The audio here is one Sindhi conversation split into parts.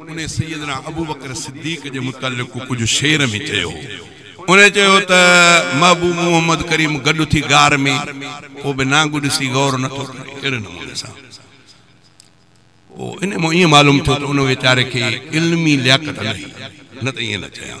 انهي سيدنا ابوبڪر صديق جي متعلق ڪجهه شعر ۾ چيو هو. انهي چيو ته، محبوب محمد ڪريم گڏ ٿي غار ۾، ڪو به نانگ ڏسي غور نه ٿو ڪري. اهڙي نموني سان پوء انهي مان ائين معلوم ٿيو ته ان ويچاري کي علمي لياقت نه هئي، نه ته ائين نه چيان.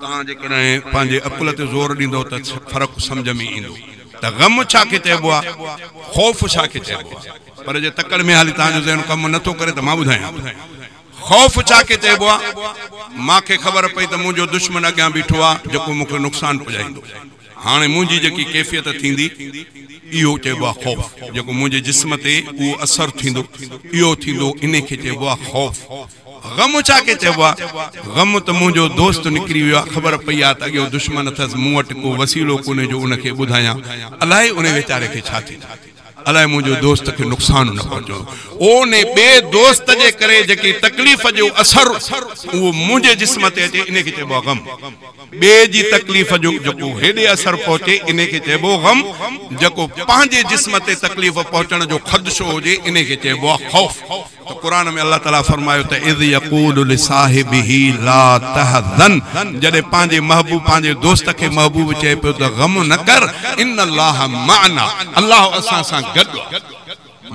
توهان جيڪڏهن پنهنجي عقل تي زور ڏيندؤ ته فرق سمجهه ۾ ايندو ته غم ڇا کي چئبو آهي، خوف ڇا کي چئبو آهي. پر جي تڪڙ ۾ هالي توهان جو ذهن ڪم نه ٿو ڪري ته مان ٻڌايان ٿو خوف ڇا کي چئبو آهي. مان کي خبر پئي ته منهنجو دشمن اڳيان بيٺو آهي جيڪو مون کي نقصان پڄائيندو. هاڻي منهنجي جيڪي ڪيفيت ٿيندي اهو چئبو آهي خوف. جيڪو منهنجي جسم تي اهو اثر ٿيندو اهو ٿيندو انهي کي چئبو آهي خوف. غم ڇا کي چئبو آ؟ غم ته منهنجو دوست نڪري ويو آ، خبر پئي آ ته اڳيون دشمن اٿس، مون وٽ ڪو وسيلو ڪونهي جو ان کي ٻڌايان، الائي ان ويچاري کي ڇا ٿيندو، الائي منهنجو دوست کي نقصان نه پهچندو، اونهي ٻئي دوست جي ڪري جيڪي تڪليف جو اثر اهو منهنجي جسم تي اچي انهي کي چئبو آ غم، ٻئي جي تڪليف جو جيڪو هيڏي اثر پهچي انهي کي چئبو غم، جيڪو پنهنجي جسم تي تڪليف پهچڻ جو خدشو هجي انهي کي چئبو آ خوف. ته قرآن ۾ الله تعالي فرمايو ته اذ يقول لصاحبه لا تحزن جڏهن پنهنجي محبوب پنهنجي دوست کي محبوب چئي پيو ته غم نه ڪر ان الله معنا الله اسان سان گڏ آهي.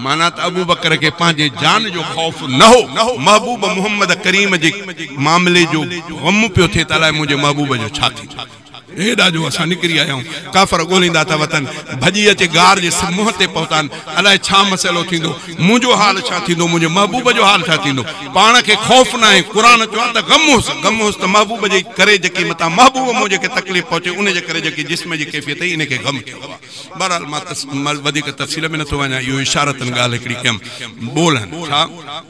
معنيٰ ته ابوبڪر کي پنهنجي جان جو خوف نه هو محبوب محمد ڪريم جي معاملي جو غم پيو ٿئي ته الائي منهنجي محبوب جو ڇا ٿيندو. هيڏا جو اسان نڪري آيائون، ڪافر ڳوليندا ٿا وتن، ڀڄي اچي غار جي منهن تي پهتان، الائي ڇا مسئلو ٿيندو، منهنجو حال ڇا ٿيندو، منهنجي محبوب جو حال ڇا ٿيندو، پاڻ کي خوف ناهي، قرآن چيو آهي ته غم هوس، غم هوس ته محبوب جي ڪري جيڪي متان محبوب منهنجي کي تڪليف پهچي ان جي ڪري جيڪي جسم جي ڪيفيت هئي ان کي غم چئبو آهي. بهرحال مان وڌيڪ تفصيل ۾ نٿو وڃان اهو اشارتن ڳالهه هڪڙي ڪيم. ٻولهن، ڇا؟